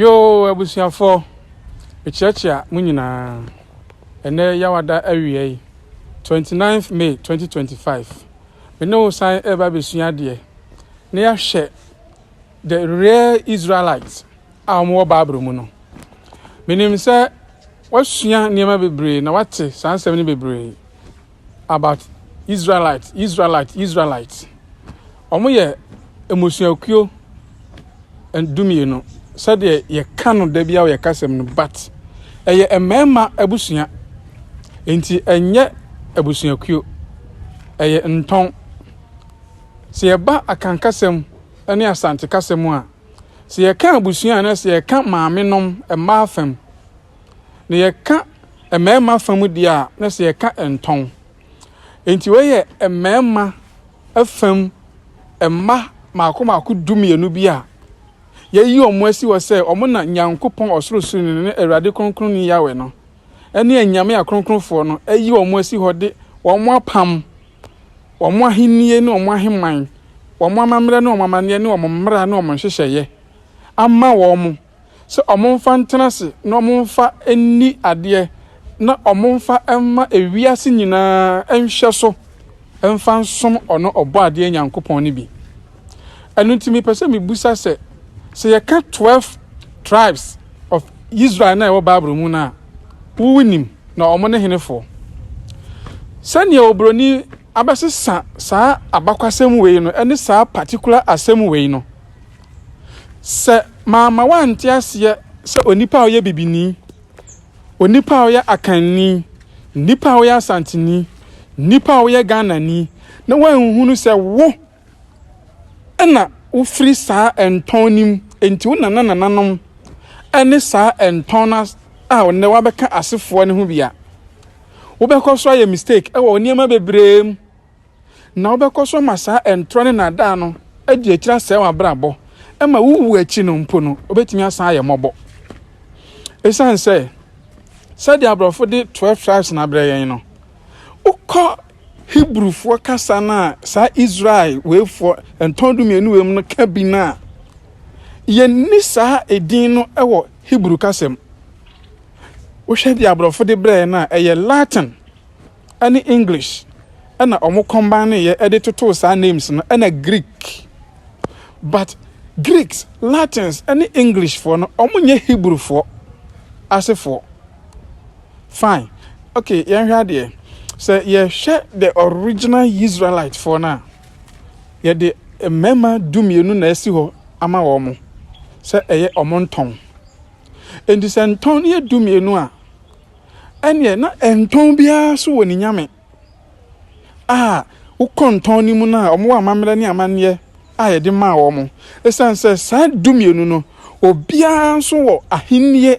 Yoo abusuafoɔ, mekyerɛkyea mo nyinaa. Ɛnnɛ Yawada awiɛi, 29th May 2025, me ne wo san reba abɛsua adeɛ na yɛahwɛ the real Israelites a wɔn wɔ Bible mu no. Menim sɛ woasua nneɛma bebree na woate saa nsɛm no bebree. about Israelite, Israelite, Israelite. Wɔn yɛ mmusuakuo dumienu sɛdeɛ yɛka no da bi a yɛka sɛm no but ɛyɛ mmarima abusua nti ɛnyɛ abusuakuo ɛyɛ ntɔn sɛ yɛba akankasɛm ne asante kasɛm a sɛ yɛka abusua na sɛ yɛka maame nom mmaa fam na yɛka mmarima fa mu deɛ a na sɛ yɛka ntɔn nti wɔyɛ mmarima fam mma mako mako du mmienu bi a yɛyi wɔn asi hɔ sɛ wɔn na nyankopɔn ɔsorosoroni no ne awurade kronkron ne yawɛ no ɛne anyame akronkronfoɔ no ayi wɔn asi hɔ de wɔn apam wɔn ahennie ne wɔn aheman wɔn amammerɛ ne wɔn amanneɛ ne wɔn mmara ne wɔn nhyehyɛeɛ ama wɔn sɛ wɔmfa ntena ase na wɔmfa nni adeɛ na wɔmfa mma ewiase nyinaa nhwɛso mfa nsom ɔno Ɔbɔadeɛ Nyankopɔn no bi. Ɛno nti mepɛ sɛ mebisa sɛ, sɛ yɛka 12 tribes of Israel no a ɛwɔ Bible mu no a, wonim na wɔn ne henefoɔ? Sɛnea oburoni abɛsesa saa abakwasɛm wei no ne saa particular asɛm wei no, Sɛ mamma woante aseɛ sɛ onipa a ɔyɛ bibini, onipa a ɔyɛ akanni, nipa a ɔyɛ asanteni, nipa a ɔyɛ Ghanani, na woanhunu sɛ wo na wofiri saa ɛntɔn no mu, enti wo nana nananom ne saa ɛntɔn no a ɔnɛ wabɛka asefoɔ no ho bi a, wobɛkɔ so ayɛ mistake wɔ nneɛma bebree mu. na wobɛkɔ so ama saa ɛntorɔ ne nnaadaa no adi akyiri asɛe w'abrabɔ ma wowu akyi no mpo no wobɛtumi asan ayɛ mmɔbɔ ɛsiane sɛ sɛdeɛ aborɔfo de 12 tribes no abrɛ yɛn no wokɔ hebrufoɔ kasa no a saa israel weifoɔ ntɔn du mmienu wei mu no ka bi no a yɛnni saa edin no wɔ hebrew kasa mu wohwɛ deɛ aborɔfo de brɛ yɛn no a ɛyɛ latin ne English na wɔn combine yɛ de totoo saa names no na Greek but Greeks, Latins ne English foɔ no wɔn nyɛ Hebrew foɔ asefoɔ fine okay yɛn hwɛ adeɛ sɛ yɛ hwɛ the original Israelite foɔ no a yɛ de mmarima du mmienu na ɛsi hɔ ama wɔn mo sɛ ɛyɛ wɔn ntɔn nti sɛ ntɔn no yɛ du mmienu a. ɛnneɛ na ɛntɔn biara so wɔ ne nyame a wokɔ ntɔn no mu no a wɔwɔ amammerɛ ne amanneɛ a yɛde maa wɔn. Ɛsiane sɛ saa dumienu no, obiara nso wɔ ahennie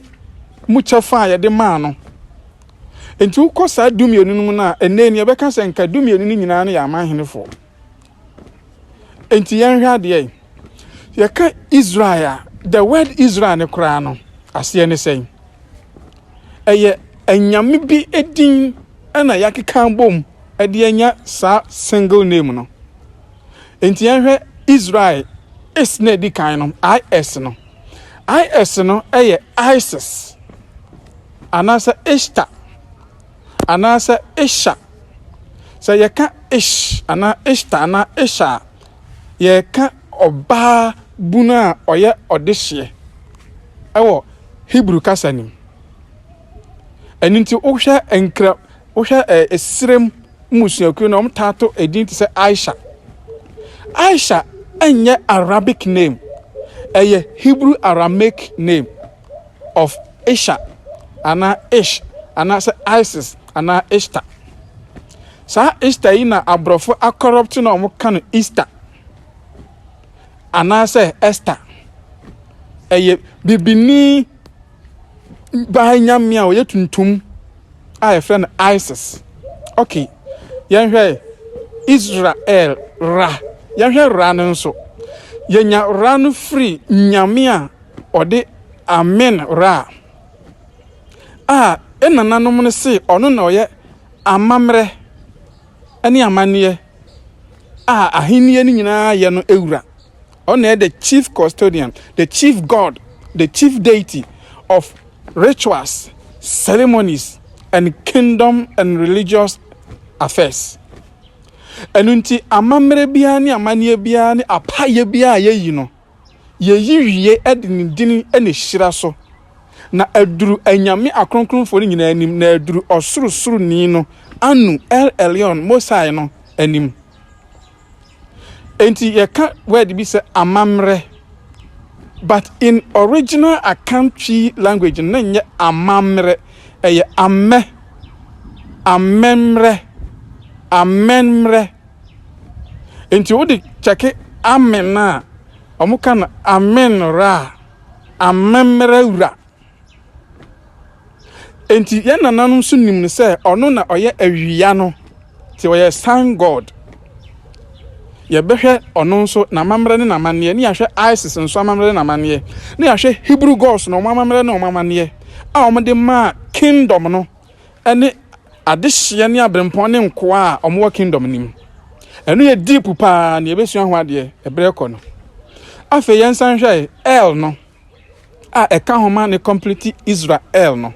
mu kyɛfa a yɛde maa no nti, wokɔ saa dumienu no mu no a, ɛnnɛ ni yɛbɛka sɛ nka dumienu no nyinaa no yɛ amanhenefoɔ. Enti yɛnhwɛ adeɛ. Yɛka Israel a, the word Israel no koraa no, aseɛ ne sɛn? Ɛyɛ anyame bi din na yɛakeka bom de anya saa single name no. Enti yɛnhwɛ Israel is na ɛdi kan no, IS no. IS no yɛ ISIS anaasɛ Ishtar. anaasɛ Isha. Sɛ yɛka Ish anaa Ishta anaa Isha a, yɛreka ɔbaa bunu a ɔyɛ ɔdehyeɛ wɔ Hebrew kasa no mu. Ɛno nti wohwɛ nkra wohwɛ ɛsrem mmusuakuo no wɔtaa to edin te sɛ Aisha. Aisha ɛnyɛ Arabic name, ɛyɛ Hebrew Aramaic name. of Isha anaa Ish anaasɛ Isis anaa Ishtar. Saa Ishtar yi na aborɔfo akɔrɔpte na wɔn ka no Easter anaasɛ Esther. Ɛyɛ bibini baa nyame a ɔyɛ tuntum a yɛfrɛ no Isis. Okay, yɛnhwɛ Israel Ra. Yɛhwɛ Ra no nso. Yɛnya Ra no firi nyame a Ɔde Amen Ra a ne nananom no se ɔno na ɔyɛ amammerɛ ne amanneɛ a ahenni no nyinaa yɛ no wura. Ɔno na ɛyɛ the chief custodian, the chief god, the chief deity of rituals, ceremonies, and kingdom and religious affairs. Ɛno nti, amammerɛ biara ne amanneɛ biara ne apaeɛ biara a yɛyi no, Yeyi wie de ne din ne hyira so, na aduru anyame akronkronfoɔ no nyinaa anim, na aduru Ɔsorosoroni no, Anu, El Elyon, Most High no, anim. Enti yɛka word bi sɛ amammerɛ, but in original Akan Twi language no, na ɛnyɛ amammerɛ, ɛyɛ amɛ, amɛmmerɛ, amɛnmmerɛ, Nti wode kyɛke amen no a, ɔmo ka no amen ra, amemmra wura. Nti yɛn nananom nso nim no sɛ ɔno na ɔyɛ awia no, nti ɔyɛ sun god. Yɛbɛhwɛ ɔno nso n'amammerɛ ne n'amanneɛ, ne yɛahwɛ ISIS nso amammerɛ ne n'amanneɛ, ne yɛahwɛ Hebrew gods na ɔmo amammerɛ ne ɔmo amanneɛ a ɔmo de maa kingdom no. ne adehyeɛ ne aberempɔn ne nkoa a wɔwɔ kingdom no mu ɛno yɛ deep paa nea ɛbɛsua ho adeɛ ɛberɛ kɔ no afei yɛn nsa nhwɛ el no a ɛka ho ma ne complete israel no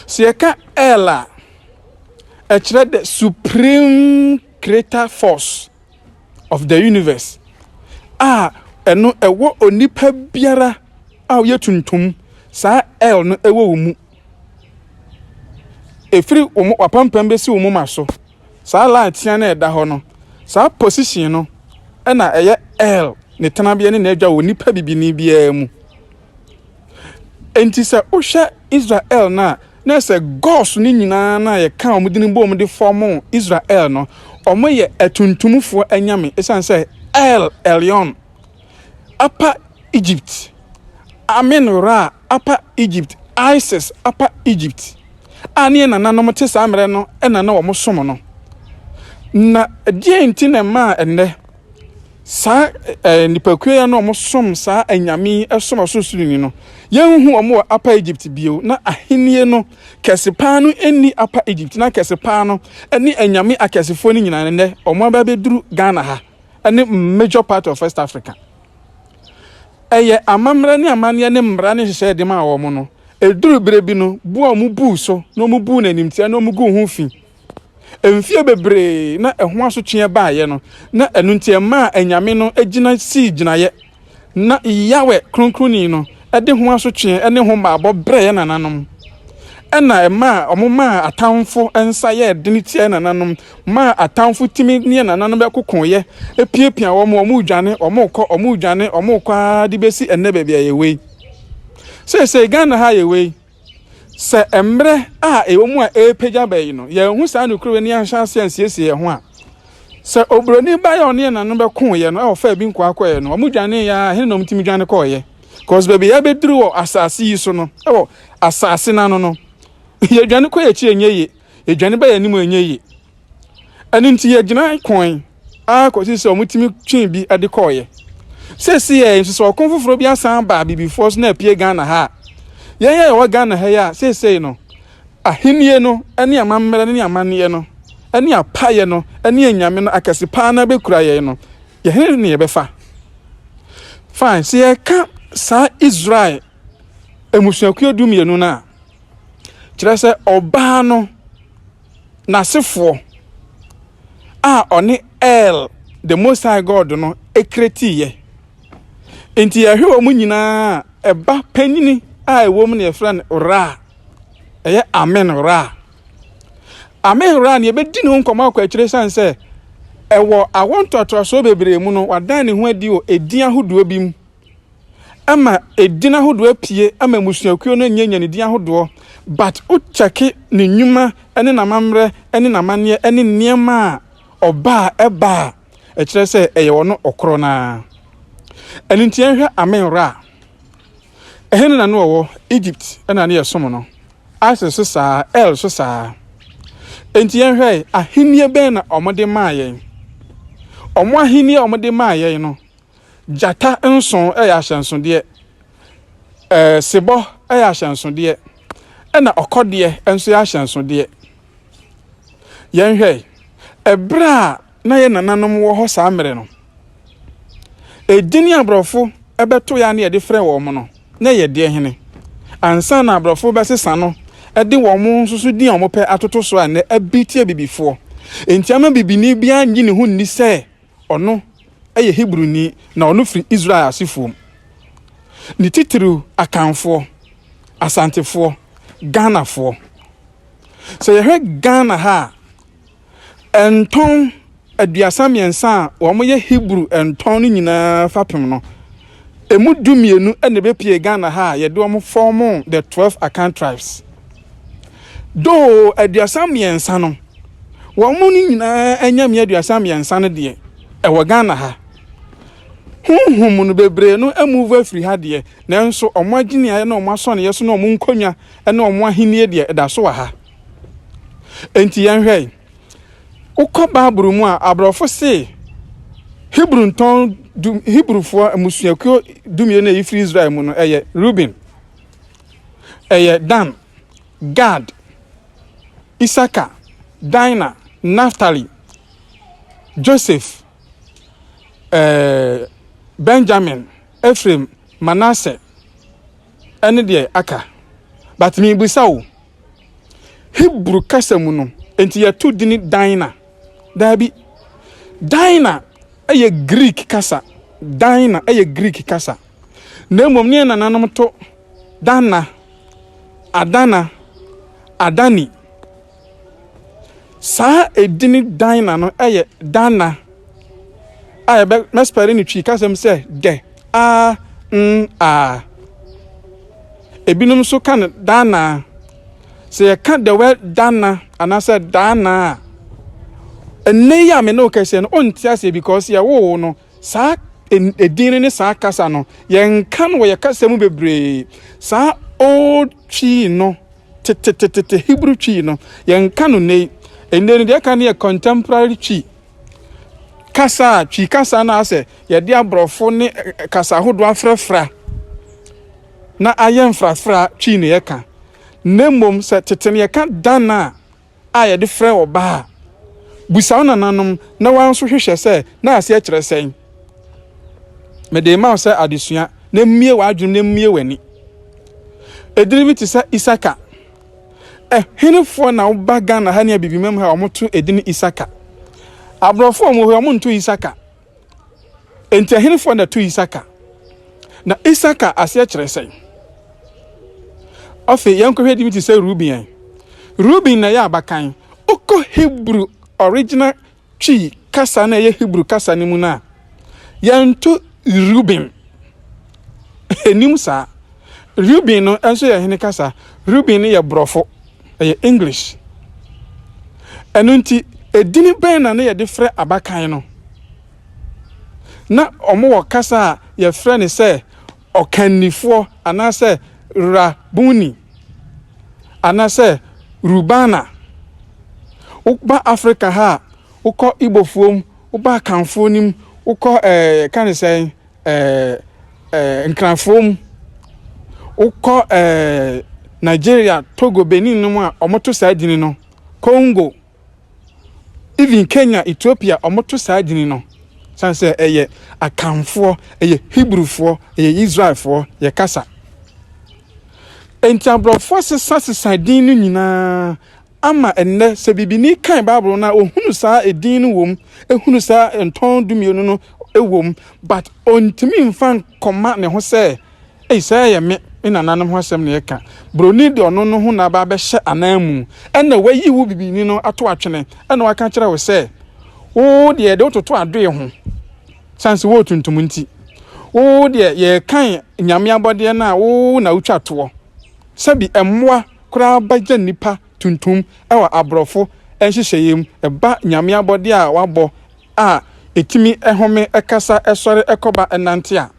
sɛ yɛka el a ɛkyerɛ the supreme creator force of the universe a ɛno ɛwɔ onipa biara a ɔyɛ tuntum saa el no ɛwɔ wo mu ɛfiri wo mo wapampam bɛsi wo moma so saa line tea no ɛda hɔ no saa position no ɛna ɛyɛ L ne tenabea ne n'adwa wɔ nipa bibini biara mu nti sɛ wohwɛ Israel no a na sɛ gos no nyinaa no a yɛka wɔn de no bom de fɔmo Israel no wɔn yɛ atuntumfoɔ anyame ɛsiane sɛ L Elion Upper Egypt Amen Ra Upper Egypt, Isis, Upper Egypt, a ne yɛn nananom te saa mmerɛ no na na wɔsom no. Na deɛn nti na ɛmaa ɛnnɛ saa eh, nipakuo yi a na wɔsom saa anyame yi som ɔsorosoroni no, yɛnhu wɔn wɔ Upper Egypt bio, na ahennie no kɛse paa no nni Upper Egypt, na kɛse paa no ne anyame akɛsefoɔ no nyinaa nnɛ wɔn abɛbɛduru Ghana ha ne major part of West Africa. Ɛyɛ amammerɛ ne amanneɛ ne mmara ne nhyehyɛe de maa wɔn no. Eduruu bere bi no, bo a wɔbuu so na wɔbuu no animtiaa na wɔguu ho fi. Mfe bebree na ɛho asotwe baeɛ no, na ɛno nti ɛmaa anyame no gyina sii gyinaeɛ. Ná Yahweh Kronkronni no de ho asotwe ne ho mmaabɔ brɛ yɛn nananom. Ɛnna ɛmaa wɔmaa atamfo nsa yɛɛ den tiaa yɛn nananom. maa atamfo tumi ne nananom bɛkokoeɛ, piapia wɔn, wɔredwane, wɔrekɔ, wɔredwane, wɔrekɔ ara de bɛsi ɛnnɛ baabi a yɛwɔ yi. Seesei Ghana ha yɛwɔ yi, sɛ mmerɛ a ɛwɔ mu a ɛrepagya bɛyi no, yɛnhu saa nokorɛ ni anhyɛ aseɛ ansiesie yɛn ho a, sɛ oburoni ba yɛ ɔne yɛn nananom bɛkoeɛ no, ɛwɔ fɛ bi nkoa kɔeɛ no, wɔredwane yɛ a, hene na wɔtumi dwane kɔeɛ. Because baabi a yɛbɛduru wɔ asase yi so no, ɛwɔ asase no ano no, yɛdwane kɔ yɛn akyi ɛnyɛ yie. Yɛdwane ba yɛn anim a ɛnyɛ yie. Ɛno nti yɛgyinae koe ara kɔsi sɛ wɔtumi twee bi de kɔeɛ. Seesei nso sɛ ɔko foforɔ bi asan aba abibifoɔ so na apue Ghana ha a, yɛn a yɛwɔ Ghana ha yi a seesei no ahennie no ne amammerɛ no ne amanneɛ no ne apaeɛ no ne anyame no akɛse paa na bɛkura yɛn no, yɛhene ne yɛbɛfa. Fine, sɛ yɛka saa Israel mmusuakuo du mmienu no a, Kyerɛ sɛ, ɔbaa no, n'asefoɔ, a ɔne El, the Most High God no, kretiiɛ. Nti yɛhwɛ wɔn nyinaa a, ɛba panyini a ɛwɔ mu na yɛfrɛ no Ra. Ɛyɛ Amen Ra. Amen Ra no yɛbɛdi ne ho nkɔmmɔ akɔ akyire sane sɛ ɛwɔ awɔ ntoatoasoɔ bebree mu no wadan ne ho adi wɔ edin ahodoɔ bi mu. ama edin ahodoɔ apue ama mmusuakuo no nyɛ nyanedin ahodoɔ but wo kyɛke ne nnwuma ne n'amammerɛ ne n'amanneɛ ne nneɛma a ɔba a ɛba a ɛkyerɛ sɛ ɛyɛ ɔno ɔkorɔ no ara. Ɛno nti yɛnhwɛ Amen Ra. Ɛhe ne na ne ɔwɔ? Egypt na ne yɛsom no. Isis so saa, El so saa. Enti yɛnhwɛ ahennie bɛn na wɔde maa yɛn. Wɔn ahennie a wɔde maa yɛn no Gyata nson yɛ ahyɛnsodeɛ, sebɔ yɛ ahyɛnsodeɛ, ɛna ɔkɔdeɛ nso yɛ ahyɛnsodeɛ. Yɛnhwɛ, ɛberɛ a na yɛ nananom wɔ hɔ saa mmerɛ no, edin a aborɔfo bɛto yɛ a na yɛde frɛ wɔn no, na ɛyɛ deɛ hene? Ansa na aborɔfo bɛsesa no de wɔn nso so din a wɔpɛ atoto so a nnɛ abiti abibifoɔ. Enti ama bibini biara nnye ne ho nni sɛ Ɔno yɛ Hebruni, na ɔno firi Israel asefoɔ mu. Ne titiriw Akanfoɔ, Asantefoɔ, Ghanafoɔ. Sɛ yɛhwɛ Ghana ha a, ntɔn aduasa mmiɛnsa a wɔyɛ Hebrew ntɔn no nyinaa fapem no, Ɛmu du mmienu na ɛbɛpue Ghana ha a yɛde wɔn fɔɔmo the twelve Akan tribes. Though aduasa mmiɛnsa no, wɔn no nyinaa nyame aduasa mmiɛnsa no deɛ, ɛwɔ Ghana ha. Honhom no bebree no amuvu afiri ha deɛ, nanso wɔn agyeneaeɛ ne wɔn asɔneɛ so ne wɔn nkonnwa ne wɔn ahennie deɛ, ɛda so wɔ ha. Enti yɛnhwɛ yi. Wokɔ Bible mu a, aborɔfo se Hebrew ntɔn du Hebrewfoɔ mmusuakuo dumien a ɛfiri Israel mu no ɛyɛ Ruben, ɛyɛ Dan, Gad, Isaka, Dina, Naftali, Joseph, eh, Benjamin, Ephraim, Manasseh, ɛne deɛ aka. But mebisa wo, Hebri kasa mu no, enti yɛto din Dina? Dabi. Dina yɛ Greek kasa. Dina yɛ Greek kasa. Na mmom ne yɛn nananom to Dana, Adana, Adani. Saa edin Dina no yɛ Dana a yɛbɛspɛre no Twi kasa mu sɛ dɛ, a, n, a. Ebinom nso ka no daanaa. Sɛ yɛka the word dana anaasɛ daanaa a, ɛnnɛ yi a me ne wo kɛseɛ no, ɔnte aseɛ because yɛwoo wo no, saa edin no ne saa kasa no, yɛnka no wɔ yɛ kasa mu bebree. Saa old twi no, tetetetete Hebrew twi no, yɛnka no nnɛ yi. Nnɛ no deɛ ɛka no yɛ contemporary twi. kasa a Twi kasa no asɛ yɛde aborɔfo ne kasa ahodoɔ afrafra na ayɛ mfrafra Twi na yɛka na mmom sɛ tete no yɛka dan a a yɛde frɛ ɔbaa a busa wo nananom na wɔn nso hwehwɛ sɛ na aseɛ kyerɛ sɛn mede ma wo sɛ adesua na mmie w'adwenem na mmie w'ani edini bi te sɛ isaka Ɛhenefoɔ na woba Ghana ha ne abibimam ha wɔto edin Isaka? Aborɔfoɔ a wɔwɔ hɔ wɔn nto Isaka. Enti ɛhenefoɔ na ɛto Isaka? Na Isaka aseɛ kyerɛ sɛn? Afei yɛnkɔhwɛ din bi te sɛ Ruben. Ruben na ɛyɛ abakan. Wokɔ Hebrew original Twi kasa no a ɛyɛ Hebrew kasa no mu no a, yɛnto Reuben ɛnim saa. Reuben no nso yɛ hene kasa. Reuben no yɛ borɔfo, ɛyɛ English. Ɛno nti, edini bɛn na na yɛde frɛ abakan no? Na wɔwɔ kasa a yɛfrɛ no sɛ Ɔkannifoɔ, anaasɛ Rabbuni, anaasɛ Rubana. Woba Afrika ha a, wokɔ Igbofoɔ mu, woba Akanfoɔ no mu, wokɔ ɛɛ yɛka ne sɛn ɛɛ ɛɛ Nkranfoɔ mu, wokɔ ɛɛ Nigeria, Togo, Benin no mu a, wɔto saa edin no. Congo, Even Kenya, Ethiopia ɔmo to saa dini no san sɛ ɛyɛ Akanfoɔ, ɛyɛ Hebrewfoɔ, ɛyɛ Israelfoɔ yɛ kasa. Enti aborɔfoɔ asesa sesa din no nyinaa ama ɛnnɛ sɛ bibini kan Bible no a ohunu saa edin no wom, ehunu saa ntɔn dumienu no wom but ontumi nfa kɔma ne ho sɛ, Ei, sɛ ɛyɛ me, me nananom ho asɛm na yɛka. Buroni de ɔno no ho na aba abɛhyɛ ananmu. Ɛnna wayi wo bibini no ato atwene. Ɛnna waka akyerɛ wo sɛ, Wo deɛ, yɛde wo toto adoe ho, sane sɛ woyɛ tuntum nti. Wo deɛ, yɛrekan nyame abɔdeɛ no a wo na wotwa toɔ. Sɛbi mmoa koraa bɛyɛ nnipa tuntum wɔ aborɔfo nhyehyɛeɛ mu, ɛba nyame abɔdeɛ a wɔabɔ a ɛtumi home, kasa, sɔre, kɔba, nante a,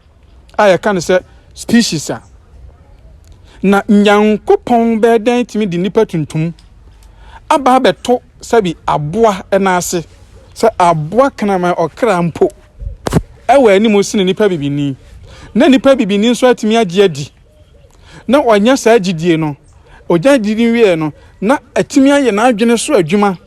a yɛka no sɛ species a. Na Nyankopɔn bɛyɛ dɛn tumi de nnipa tuntum aba abɛto sɛbi aboa no ase, sɛ aboa kraman ɔkra mpo ɛwɔ anim sene nnipa bibini, na nnipa bibini nso atumi agye adi na wanya saa gyidie no, ɔgya gyidie wieɛ no, na atumi ayɛ n'adwene so adwuma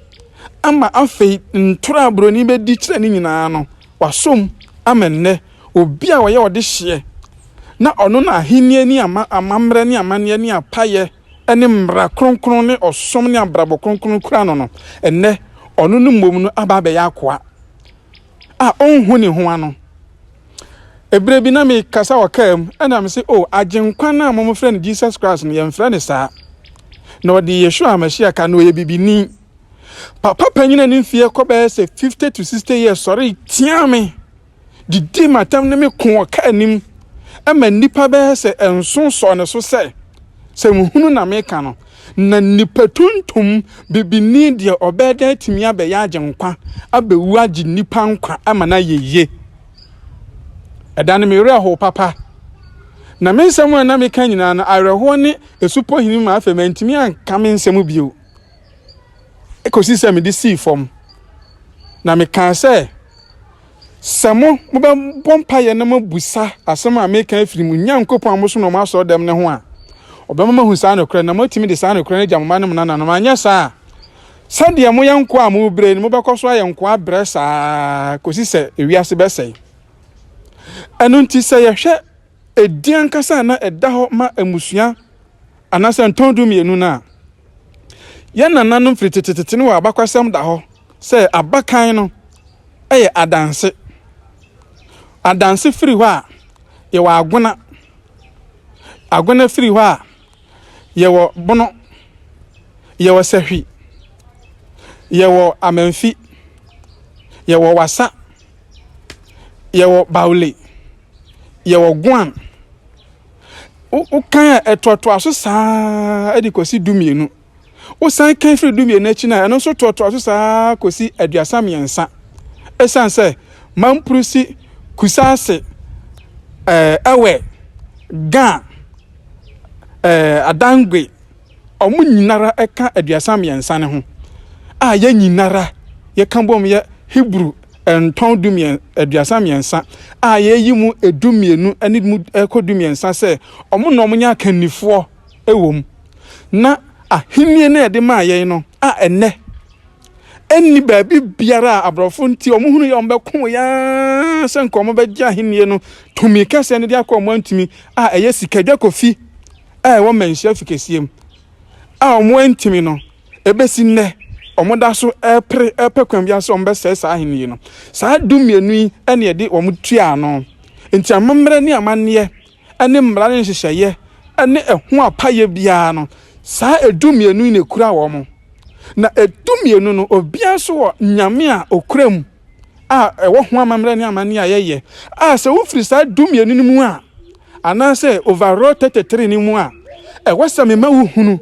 ama afei ntorɔ a buroni bɛdi kyerɛ ne nyinaa no, wasɔm ama nnɛ obi a ɔyɛ ɔdehyeɛ, na ɔno na ahennie ne ama, amammerɛ ne amanneɛ ne apayɛ ne mmara kronkron ne ɔsom ne abrabɔ kronkron kura no no, ɛnnɛ ɔno no mmom no aba abɛyɛ akoa. a ɔnhu ne ho ano. Ɛberɛ bi na mekasa wɔ kaa mu, ɛna mese, o, agyenkwa no a momfrɛ no Jesus Christ no, yɛmfrɛ no saa. Na ɔde Yeshua Mɛhyiah ka, na ɔyɛ bibini. Papa panyina ne mfeɛ kɔ bɛyɛ sɛ 50 to 60 years sɔree tiaa me, didii m'atam ne me ko wɔ kaa anim, ɛma nnipa bɛyɛ sɛ nson sɔɔ ne so sɛ, sɛ nhunu na meka no. Na nnipa tuntum, bibini deɛ ɔbɛyɛ dɛ atumi abɛyɛ agyenkwa, abɛwu agye nnipa nkwa ama no ayɛ yie. Ɛda no me werɛ how papa. Na me nsɛm a na meka nyinaa no, awerɛhoɔ ne asupɔ hini ma afei mantumi anka me nsɛm bio. Ɛkɔsi sɛ mede sii fam. Na mekaa sɛ, Sɛ mo, mobɛbɔ mpaeɛ na moabusa asɛm a meka afiri mo Nyankopɔn a mosom no wɔ mo asɔredɛm no ho a, ɔbɛma moahu saa nokorɛ na moatumi de saa nokorɛ no agya mo mma ne mo nananom, anyɛ saa a, sɛdeɛ moyɛ nkoa a morebrɛ yi no, mobɛkɔ so ayɛ nkoa abrɛ saa ara kɔsi sɛ ewiase bɛsɛe. Ɛno nti, sɛ yɛhwɛ edin ankasa a na ɛda hɔ ma mmusua anaasɛ ntɔn dumienu no a. Yɛn nananom firi tetetete no wɔ abakwasɛm da hɔ sɛ abakan no yɛ adanse. Adanse firi hɔ a, yɛwɔ agona. Agona firi hɔ a, yɛwɔ bono, yɛwɔ sahwi, yɛwɔ amanfi, yɛwɔ wasa, yɛwɔ baule. yɛwɔ guan wokan a ɛtoatoa so saa de kɔsi du mmienu wosan kan firi du mmienu akyi no a ɛno nso toatoa so saa kɔsi aduasa mmiɛnsa ɛsiane sɛ mampurusi kusaase ɛwɛ eh, gan eh, adangwe wɔn nyinara ka aduasa mmiɛnsa no ho a yɛn nyinara yɛka bom yɛ Hebrew ntɔn dumien, aduasa mmiɛnsa a yɛyi mu edu mmienu ne mu ɛkɔ du mmiɛnsa sɛ wɔn na wɔnyɛ akannifoɔ wɔ mu. Na ahennie no a yɛde maa yɛn no a ɛnnɛ ɛnni baabi biara a aborɔfo nti wɔn hunu yɛ wɔn bɛko yɛn sɛ nka wɔn bɛgye ahennie no tumi kɛseɛ no de akɔ wɔn antumi a ɛyɛ sikadwa kofi a ɛwɔ manhyia fi kɛseɛ mu a wɔantumi no, ɛbɛsi nnɛ wɔda so repere repɛ kwan biara sɛ wɔbɛsɛe saa ahenni no. Saa du mmienu yi na ɛde wɔn tua ano. Nti amammerɛ ne amanneɛ ne mmara ne nhyehyɛeɛ ne ɛho apayɛ biara no, saa edu mmienu yi na ɛkura wɔn. Na edu mmienu no, obiara nso wɔ nyame a ɔkura mu. a ɛwɔ ho amammerɛ ne amanneɛ a yɛyɛ a sɛ wofiri saa du mmienu no mu a anaasɛ overall 33 no mu a ɛwɔ sɛ mema wohunu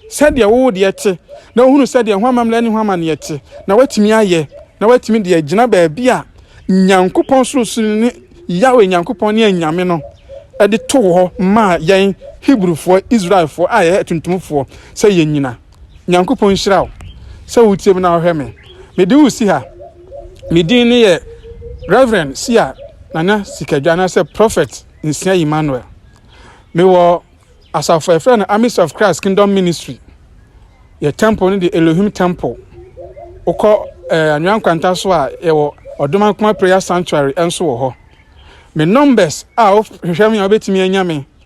sɛdeɛ wo deɛ te na wohunu sɛdeɛ ho amammerɛ ne ho amanneɛ te na woatumi ayɛ na woatumi deɛ agyina baabi a Nyankopɔn sorosoro ne Yahweh Nyankopɔn ne anyame no de to hɔ maa yɛn Hebrifoɔ, Israelfoɔ a yɛyɛ atuntumfoɔ sɛ yɛnyina. Nyankopɔn nhyira wo sɛ wotie me na wohwɛ me. Mede wo si ha. Me din ne yɛ Reverend Sia Nana Sikadwa anaasɛ Prophet Nsia Emmanuel. Mewɔ asafo a yɛfrɛ no Armies of Christ Kingdom Ministry. Yɛ temple no de Elohim Temple. Wokɔ eh, Anwea Nkwanta so a yɛwɔ Ɔdomankoma Prayer Sanctuary nso wɔ hɔ. Me numbers a wohwehwɛ me a wobɛtumi anya me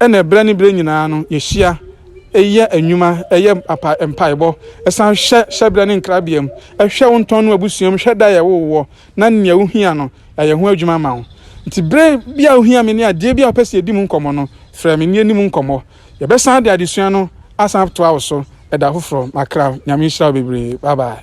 Ɛnna berɛ ne berɛ nyinaa no, yɛhyia yɛ nnwuma, yɛ mpaebɔ, san hwɛ hyɛberɛ ne nkrabeam, hwɛ wo ntɔn no abusua mu, hwɛ da a yɛwoo woɔ, na nea wohia no, yɛayɛ ho adwuma ama wo. Nti berɛ bi a wohia me ne adeɛ bi a wopɛ sɛ yɛdi mu nkɔmmɔ no, frɛ me na yɛnni mu nkɔmmɔ. Yɛbɛsan de adesua no asan atoa wo so da foforɔ. M'akra, Nyame nhyira wo bebree. Bye bye.